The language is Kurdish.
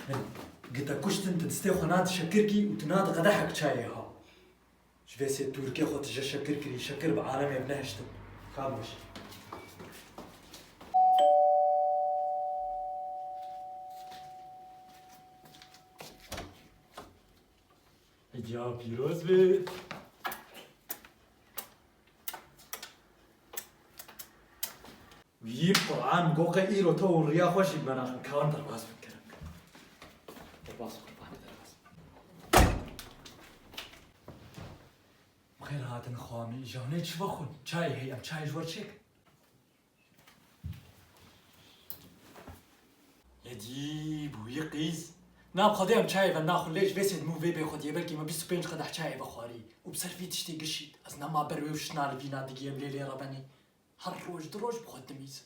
Hin, gita kuştin tu distê xwe nadi şekirkî û tu nadi qedehek çayê ha. Ji vê sê tûrkê xwe tu je şekir kirî, şekir bi alemê bi nehiştin. Ka bû jî. Giya pîroz be. Yî Quran go qe îro to û riya xwe jî bena xwe kawan derbas bin kirin. Derbas qurbanê derbas. Xêr hatin xwamî janê çi vexwin çayê heye em çayê ji we çêk. Ecîb û yê qîz. Nav xwedê em çayê ve naxwin lê ji vê sêdimû vê bê xwediyê belkî me bîst û pênc qedeh çayê vexwarî û bi ser vî tiştê gişît. Ez ne ma ber wê û şina li vî na digiyêm lê lê re benê her roj du roj bi xwe dimîzim.